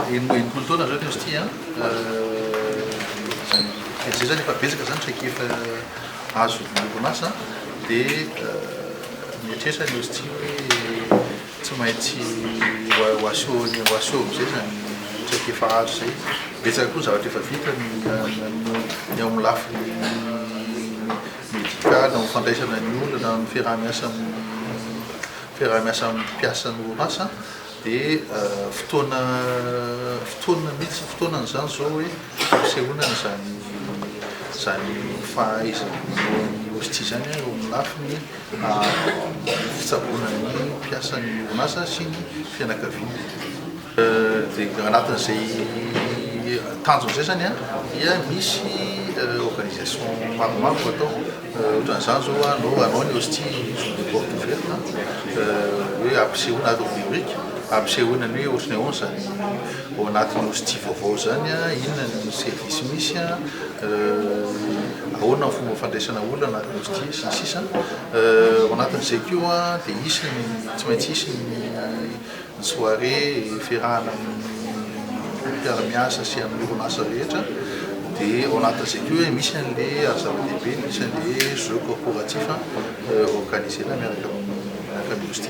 Enimpolo taona zao ianao sty an! Dia izay izany efa betsaka izany traikefa azo ny orinasa dia mieritreritra ianao sty hoe tsy maintsy ho aseho amin'izay izany traikefa azo izay. Betsaka koa ny zavatra efa vita ny eo amin'ny lafiny medikaly, ny fandraisana ny olona, ny fiaraha-miasa amin'ny. fiaraha-miasa amin'ny mpiasan'ny orinasa dia fotoana fotoana mihitsy fotoana an'izany izao hoe fisehoana izany izany fahaizana manao ny hostie izany eo amin'ny lafiny fitsaboana ny mpiasan'ny orinasa sy ny fianakaviana. Dia anatin'izay tanjona izay izany dia misy organisation maromaro no atao, ohatran'izany izao anao hanao ny hostie jour de porte ouverte, hoe ampisehoana ato amin'ny rubrique, ampisehoana ny hoe ohatry ny ahoana izany ao anatin'ny hostie vaovao izany, inona ny service misy, ahoana ny fomba fandraisana olona anatin'ny hostie sy ny sisa. Ao anatin'izay koa dia hisy ny, tsy maintsy hisy ny. Ny soirée iferahana amin'ny mpiara-miasa sy amin'ny orinasa rehetra dia ao anatin'izay koa hoe misy an'ilay ary zava-dehibe dia misy an'ilay hoe jeux corporatifs organiser-na miaraka amin'ny miaraka amin'ny Hosty.